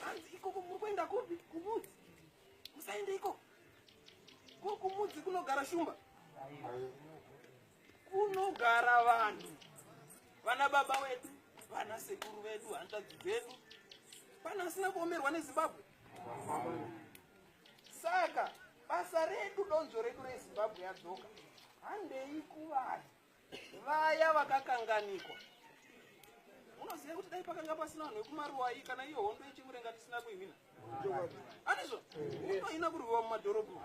hanzi ikoko muri kuenda kupi kumudzi musaende ikoko ko kumudzi kunogara shumba kunogara vanhu vana baba wedu vana sekuru vedu hanzvadzi dzedu pana asina kuomerwa nezimbabwe saka basa redu donzvo redu rezimbabwe yadzoka handei kuvanhu vaya vakakanganikwa unoziva kuti dai pakanga pasina vanhu vekumaruwai kana iyo hondo yechimurenga tisina kuihwina anizvo unohina kurwiwa mumadhorobho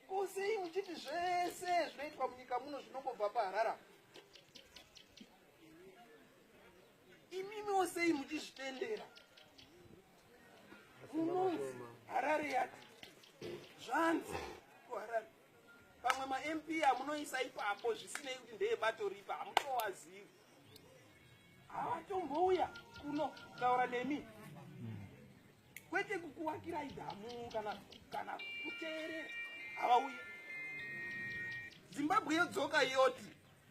ko sei muchiti zvese zvinoitwa munyika muno zvinongobva paharara imimiwo sei muchizvitendera munonzi harare yati zvanzi kuharare pamwe mamp amunoisa ipapo zvisinei kuti ndeebato ripa hamutowazivi havatombouya kuno kutaura nemi kwete kukuwakirai dhamu kana kana kuteerera havauyi zimbabwe yodzoka yoti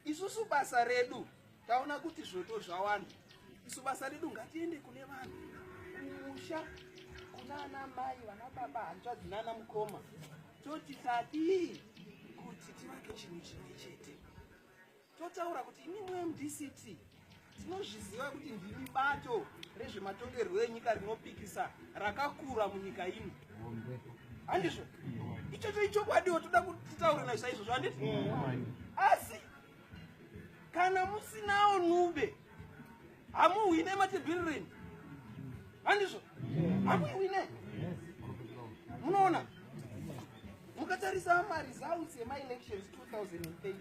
isusu basa redu taona kuti zvoto zvawanda isu basa redu ngatiende kune vanhu kumusha kuna ana mai vana baba hanzvadzi nana mukoma toti tadii kuti tivake chinhu chimwe chete totaura kuti imimwe mdct Tinozviziva kuti ndimi bato rezvematongerwo enyika rinopikisa rakakura munyika ino, handizvo? Ichocho ichokwadiwo toda kutitaure nazvo saizvozvo, handiti? Asi kana musinawo nube hamuhwine matebhirireni, handizvo? Hamuhwine, munoona mukatarisa maresults emaelections 2018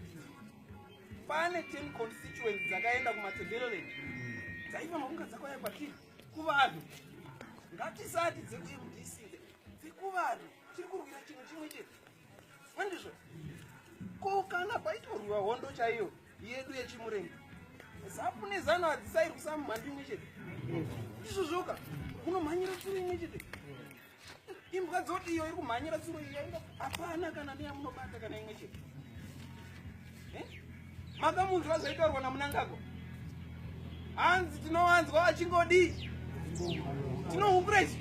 pane 10 constituents dzakaenda kumatebeleland dzaifanwa kunge dzakauya kwatiri kuvanhu ngatisati dzekumdc dzekuvanhu tiri kurwira chinhu chimwe chete andizvo ko kana paitorwiwa hondo chaiyo yedu yechimurenga zapu nezano hadzisairwisa mumhandu imwe chete ndizvozvoka munomhanyira tsuru imwe chete imbwa dzoti iyo iri kumhanyira tsuro iyo yaida hapana kana neyamunobata kana imwe chete eh? makamunzwa zvaitaurwa namunangagwa hanzi tinowanzwa achingodii tinohukura ichi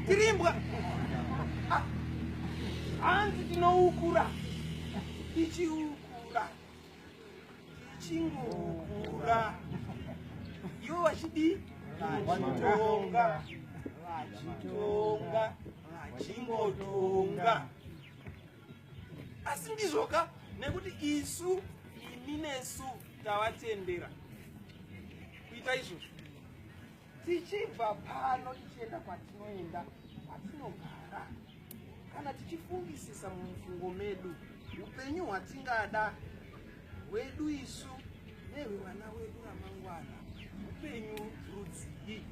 tiri imbwa ah. hanzi tinoukura tichiukura chingokura ivo vachidii vachitonga vachitonga vachingotonga asi ndizvoka nekuti isu imi nesu tavatendera kuita izvozvo tichibva pano tichienda kwatinoenda kwatinogara kana tichifungisisa mumufungo medu upenyu hwatingada hwedu isu nehwevana wedu ramangwana upenyu rudzii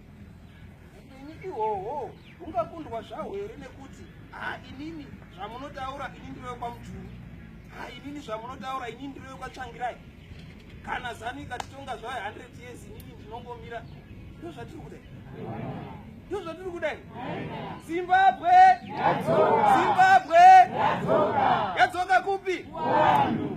upenyu ihwohwo hungakundwa zvahwo here nekuti ha inini zvamunotaura ini ndiro yekwamujuru ha inini zvamunotaura ini ndiro yekwatsvangirai Kana zanu ikatitonga zvayo 100 years inini ndinongomira. Ndizvo zvatiri kuda. Ndizvo zvatiri kuda. Zimbabwe yadzoka. Zimbabwe yadzoka. Yadzoka kupi? Kuvanhu.